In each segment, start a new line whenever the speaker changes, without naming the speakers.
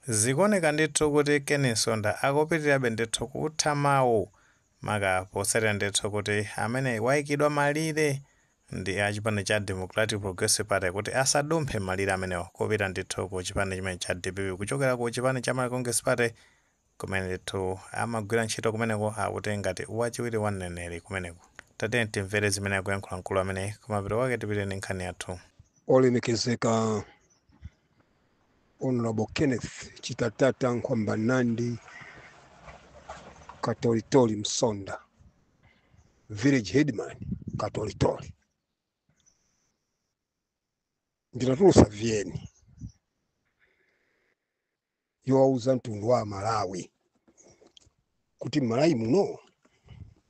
Zikuoneka ndithu kuti Ken Msonda akupitirirabe ndithu kutha mawu maka potsatira ndithu kuti amene waikidwa malire ndi a chipani cha Democratic Progressive Party kuti asadumphe malire amenewo kupita ndithu ku chipani chimene cha dpp kuchokera ku chipani cha Malawi Congress Party kumene ndithu amagwira ntchito kumeneko akuti ngati wachiwiri wa mneneri kumeneko. Tatiyeni timvere zimene akuyankhula mkulu ameneyi kumapeto kwake tipite ndi nkhani yathu. Olemekezeka
Honourable Kenneth Chitatata Nkhwambanandi Katolitoli Msonda Village Headman Katolitoli ndinatulusa VN yowauza mtundu wa Malawi kuti m'Malawi muno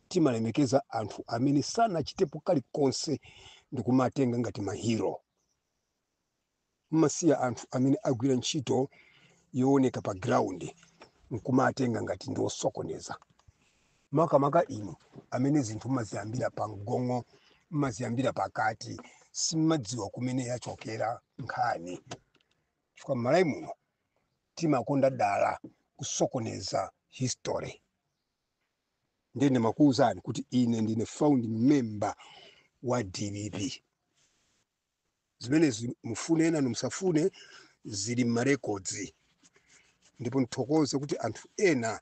timalemekeza anthu amene sanachitepo kalikonse ndikumatenga ngati mahiro mmasiya anthu amene agwira ntchito yooneka pa ground nkumatenga ngati ndi osokoneza makamaka inu amene zinthu mmaziyambira pa mgongo mmaziyambira pakati simmadziwa kumene yachokera nkhani chifukwa mmalawi muno timakonda dala kusokoneza history ndiye ndimakuwuzani kuti ine ndine founding member wa dpp zimenezi mufune enanu musafune zili m'marekodzi ndipo ndithokoze kuti anthu ena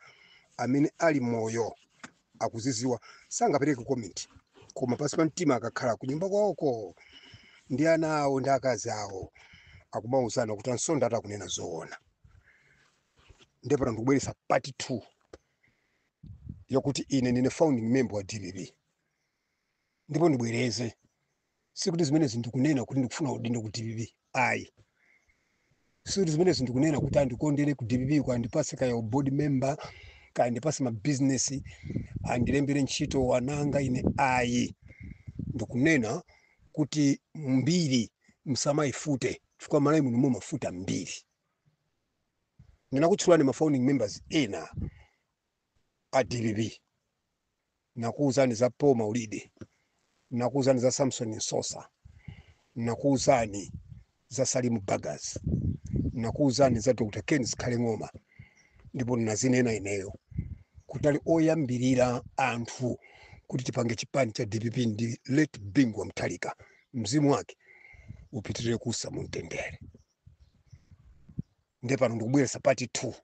amene ali moyo akuziziwa sangapereke komenti koma pansi pa mtima akakhala kunyumba kwawoko ndi ana awo ndi akazi awo akumauzana kuti a Msonda atakunena zoona ndipo pano ndikubweretsa part 2 yokuti ine ndine founding member wa dpp ndipo ndibwereze sikuti zimenezi ndikunena kuti ndikufuna udindo ku dpp ayi sikuti zimenezi ndikunena kuti andikondere ku dpp kaya andipase kaya u board member kaya andipase mabizinesi andilembere ntchito wananga ine ayi ndikunena kuti mbiri msamayifute chifukwa m'Malawi muno mumafuta mbiri ndinakutchulirani ma founding members ena a dpp nakuuzani za Paul Maulidi nakuuzani za Samson Msosa nakuuzani za Salimu Bagas nakuuzani za Dr. Ken Zikhale Ng'oma ndipo nazinena ineyo kuti ali oyambirira anthu kuti tipange chipani cha dpp ndi late Bingu wa Mutharika mzimu wake upitirire kuusa mu mtendere nde pano ndikubweresa pati 2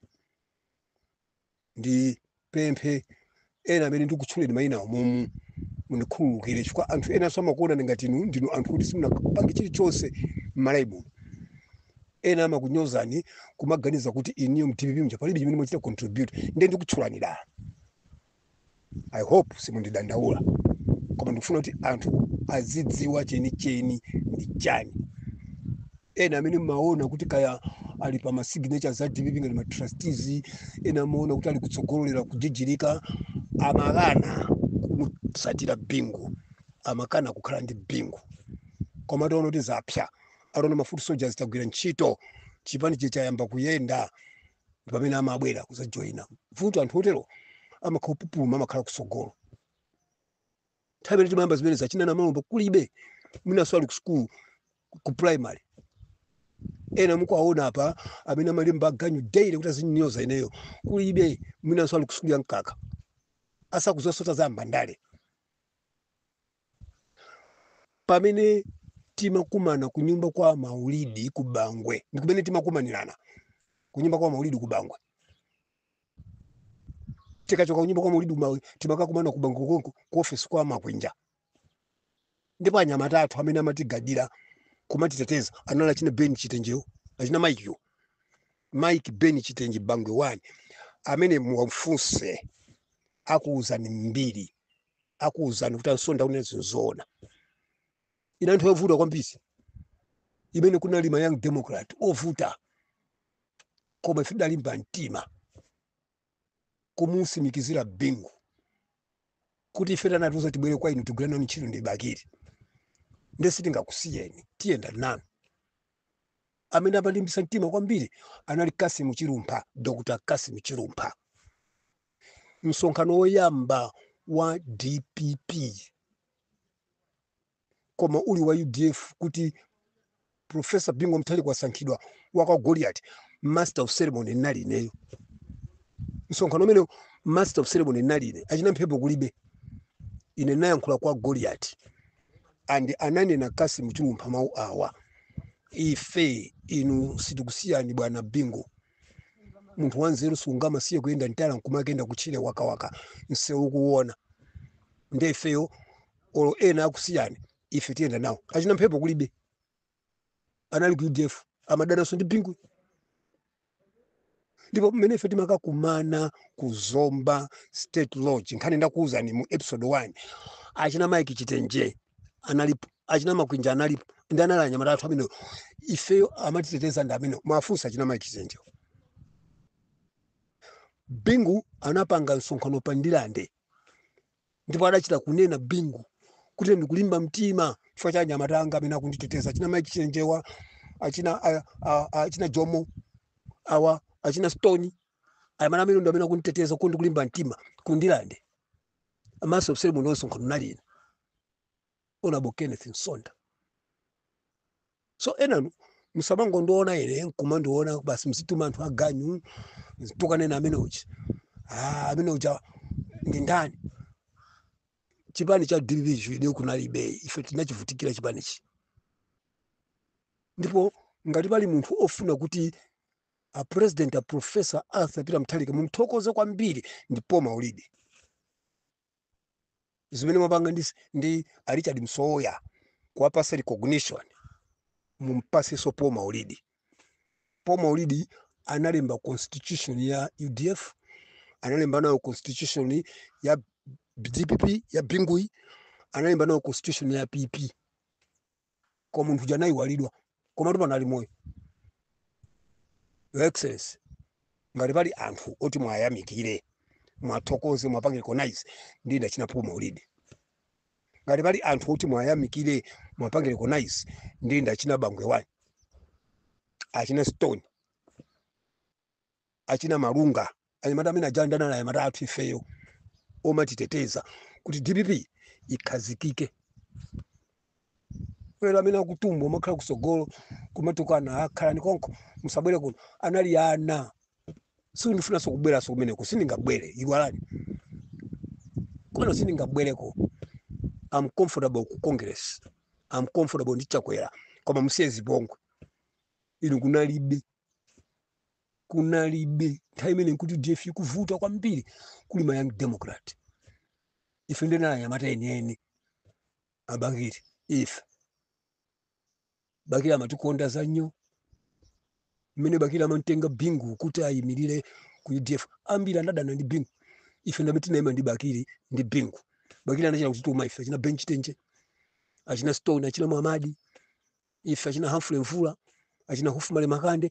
ndipemphe ena amene ndikutchuleni mayina awo momu mundikhululukire chifukwa anthu enanso amakuonani ngati inu ndinu anthu kuti simunapange chilichonse m'malawi muno ena amakunyozani kumaganiza kuti inuyo mdpp mja palibe chimene mwachita contribute ndiye ndikutchulani dala i hope simundidandaula koma ndikufuna kuti anthu azidziwa chenicheni ndi chani ena amene mumaona kuti kaya ali pa masignatures a dpp ngati matrustees ena amaona kuti ali kutsogolo lero kujijirika amakana kumusatira bingu amakana kukhala ndi bingu koma ataona kuti zapsa ataona mafoot soldiers tagwira ntchito chipani chayamba kuyenda ndi pamene amabwera kuzajoyina vuto anthu otero amakhala opupuluma amakhala kusogolo nthawi imene timayamba zimenezi achina namalomba kulibe mwinanso ali ku sukulu ku primary ena mukuwaona apa amene amalemba aganyu daily kuti azinyoza ineyo kulibe mwinanso ali ku sukulu ya mkaka asakuzasota za mbandale pamene timakumana kunyumba kwa maulidi ku bangwe ndi kumene timakumanirana kunyumba kwa maulidi ku bangwe tikachoka kunyumba kwa maulidi timakakumana ku bangwe konko ku ofesi kwa makwinja ndipo anyamata athu amene amatigadira kumatiteteza anali achina ben chitenjewo achina mike ben chitenje bangwe 1 amene muwafunse akuwuzani mbiri akuwuzani kuti ansonda kunena zinzoona inali nthawi yovuta kwambiri imene kunali ma young democrat ovuta koma ife tidalimba mtima kumusimikizira bingu kuti ife anatiuza tibwere kwa inu tigwire nanu ntchito ndi bakiri nde sitingakusiyeni tiyenda nanu amene amalimbisa mtima kwambiri anali kassim chilumpha dr kassim chilumpha msonkhano woyamba wa dpp koma uli wa udf kuti profesa bingu mutharika wasankhidwa wakwa goliati master of ceremony ndinali ineyo msonkhano umene master of ceremony ndinali ine achina mphepo kulibe ine ndinayankhula kwa goliati and ananena kassim chilumpha mawu awa ife inu sitikusiyani bwana bingu munthu wanzeru sungamasiya kuyenda mtala nkumakayenda kutchire wakawaka mseu kuwona nde ifeyo olo ena akusiyeni ife tiyenda nawo achina mphepo kulibe anali ku udf amadananso ndi bingu ndipo mmene ife timakakumana ku zomba state lodge nkhani ndakuwuzani mu episode 1 achina mike chitenje analipo achina makwinja analipo ndi anali anyamata athu amenewo ifeyo amatiteteza ndi amenewo mafunsa achina mike chitenjewo bingu anapanga msonkhano pa ndirande ndipo adachita kunena bingu kuti ndikulimba mtima chifukwa cha anyamata anga amene akunditeteza achina mike chitenjewa achina a- a- a- achina jomo awa achina stone anyamata amene ndi amene akunditeteza kuti ndikulimba mtima kundirande amaso msere muno msonkhano nalina Honorable Kenneth Msonda. So enanu musamangondiona ine nkumandiona basi mzituma anthu aganyu kukanena amene uchi ah, amene uja ndi ndani chipani cha dppchi inu kunalibe ife tinachivutikira chipanichi ndipo ngati pali munthu ofuna kuti a president a professor arthur peter mutharika mumthokoze kwambiri ndi paul maulidi zimene mwapanga ndi, ndi a Richard Msowoya kuwapasa recognition mumpasenso Paul Maulidi. Paul Maulidi analemba constitution ya UDF, analemba nayo constitution ya DPP ya Binguyi, analemba nayo constitution ya PP. koma munthu uja anayiwalidwa komatu pano ali moyo your excellency ngati pali anthu oti mwayamikire mwathokoze mwapange recognize ndi ndachina paul maulidi ngati pali anthu oti mwayamikire mwapange recognize ndi ndachina bangwe wani achina stone achina Malunga, anyamata amene aja anali anyamata athu ifeyo omatiteteza kuti dpp ikhazikike. Lero amene akutumba kumakhala kusogolo kumatukana ah, khalani konko musabwere kuno anali ana sindifunanso kubweranso kumeneko sindingabwere iwalani kwano sindingabwereko I'm comfortable ku congress I'm comfortable ndi chakwera koma musiye zipongwe inu kunalibe kunalibe nthawi imene nkuti udf ikuvuta kwambiri kuli ma young democrat ife ndena anyamata enieni a bakili ife bakili amatikonda zanyo mmene bakili amamtenga bingu kuti ayimirire ku udf ambiri anadana ndi bingu ife ndamene tinayima ndi bakili ndi bingu bakili anachita kutituma ife achina ben chitenje achina stone achina mwamadi ife achina Humphrey Mvula achina Hophmally Makande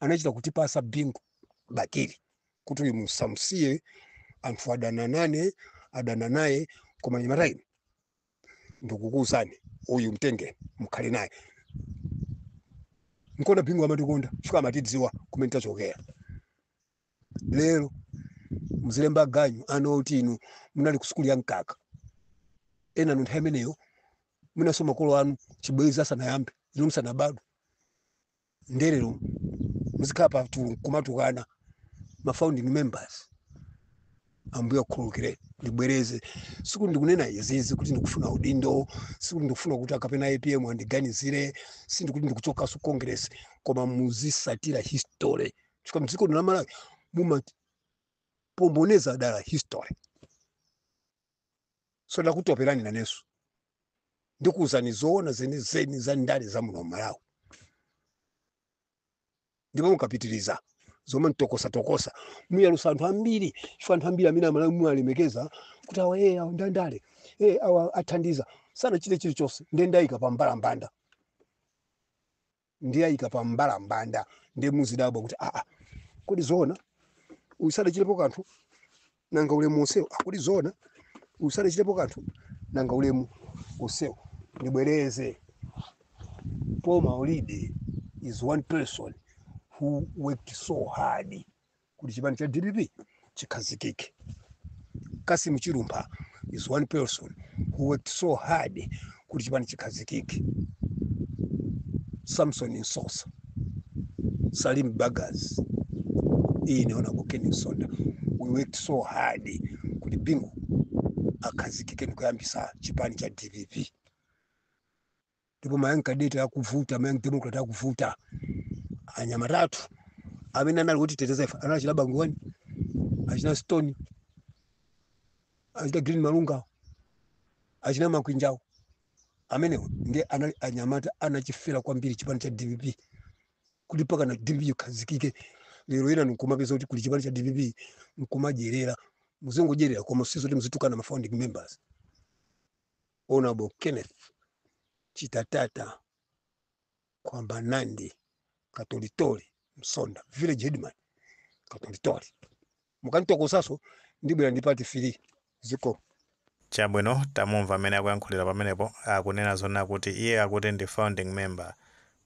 anachita kutipasa Bingu Bakili kuti uyu musamsiye, anthu adana nane adana naye, koma anyamata inu ndikukuuzani uyu mtenge mkhale naye nkuona Bingu amatikonda chifukwa amatidziwa kumene tachokera. lero muzilemba ganyu ana oti inu munali ku sukulu ya mkaka ena nu nthawi imeneyo mwinanso makolo anu chibwezi asanayambe inu musanabadwe nde lero muzikhala pa tu- kumatukana ma founding members ambuye akhululukire ndibwereze sikuti ndikunena izizi kuti ndikufuna udindo sikuti ndikufuna kuti akapena apm andiganizire sikuti ndikuchokaso congress koma muzisatira history chifukwa mdziko lino la malawi mumapomboneza dala history so ndakutoperani nanenso ndikuwuzani zoona zenizeni za ndale za muno malawi ndipo mukapitiriza zomantokosatokosa muyalusa anthu ambiri chifukwa anthu ambiri amene amalawi muwalemekeza kuti awa ee awa ndandale ee awa athandiza sanachite chilichonse nde ndayika pa mbalambanda ndiyayika pa mbalambanda ndiye muzidabwa kuti aa kodi zoona uyu sadachitepo kanthu nanga ulemu onsewo aa kodi zoona uyu sadachitepo kanthu nanga ulemu onsewo ndibwereze paul maulidi is one person who worked so hard kuti chipani cha dpp chikhazikike kassim chilumpha is one person who worked so hard kuti chipani chikhazikike samson msosa salim bagus ine honorable ken msonda we worked so hard kuti bingu akhazikike ndikuyambisa chipani cha dpp ndipo ma young cadet akuvuta ma young democrat akuvuta anyamata athu amene anali otiteteza ife anali achina bangoni achina stone achina green malungawo achina makwinjawo amenewo ndiye anali anyamata anachifera kwambiri chipani cha dpp kuti mpaka na dpp ikhazikike lero inu nkumapeza kuti kuli chipani cha dpp nkumadyerera muzingodyerera koma sizoti muzitukana ma founding members Honorable Kenneth Chitatata Kwamba Nandi Katolitori Msonda village headman Katolitori mukanditokosaso ndibwera ndi part three zikomo
chabwino tamumva amene akuyankhulira pamenepo akunena zoona kuti iye akuti ndi founding member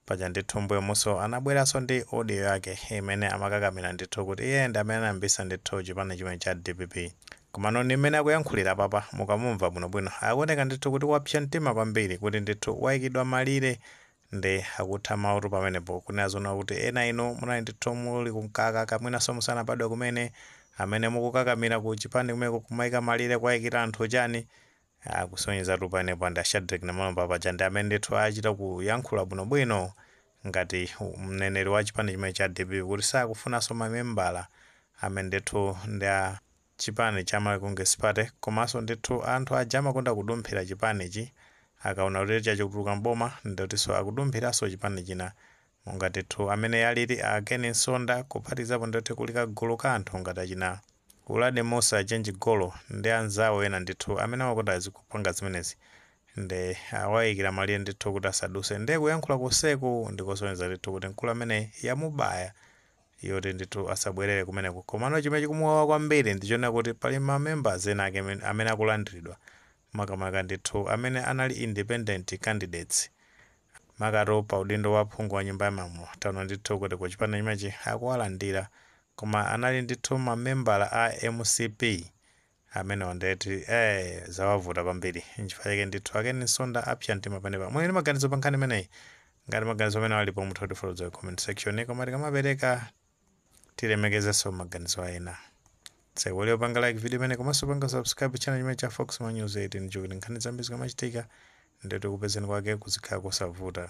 Paja ndithu mmbuyomuso anabweraso ndi audio yake imene amakakamira ndithu kuti iye ndi amene anayambisa ndithu chipani chimenechi cha dpp. Komano ndi mmene akuyankhulira apapa mukamumva bwinobwino akuoneka ndithu kuti wapsa mtima kwambiri kuti ndithu waikidwa malire nde akutha mawu pamenepo kunena zoona kuti ena inu munali ndithu muli ku mkaka mwinaso musanabadwe kumene amene mukukakamira ku chipani kumeneko kumaika malire kuwaikira anthu chani Aaa kusonyezatu panepa ndi a Shadreck Namalomba paja ndi amene ndithu achita kuyankhula bwinobwino ngati mneneri wa chipani chimene cha dpp kuti sakufunanso mamembala amene ndithu ndi a chipani cha Malawi Congress Party komanso ndithu anthu aja amakonda kudumphira chipanichi akaona kuti chachoka chatuluka m'boma ndikutinso akudumphiranso chipani china Monga ndithu amene alili a Ken Msonda kuphatikizapo ndithu kuli kagulu ka anthu ngati achina Uladi Mussa, Chenji Golo ndi anzawo ena ndithu amene amakonda kupanga zimenezi nde awaikira malire ndithu kuti asaduse nde kuyankhula konseku ndikusonyeza ndithu kuti mkulu ameneyi yamubaya yoti ndithu asabwerere kumeneko. Komano chimene chikumuwawa kwambiri ndichonena kuti pali ma members ena ake amene akulandiridwa makamaka ndithu amene anali independent candidates makamaka pa udindo wa phungu wa nyumba ya malamulo taona ndithu kuti ku chipani chimenechi akuwalandira koma anali ndithu mamembala a mcp amenewa nde kuti eh zawavuta kwambiri nchifukwa chake ndithu a Ken Msonda apsa mtima panepa muli ndi maganizo pa nkhani imeneyi ngati maganizo amenewo alipo mutha kutifotokozera mu comment section koma tikamapereka tilemekezenso maganizo a ena osaiwala kupanga like video imeneyi komanso kupanga subscribe channel chimene cha fox ma news nicholinga choti nkhani zambiri zikamachitika ndithu kukupezani kwake kuzikhala kosavuta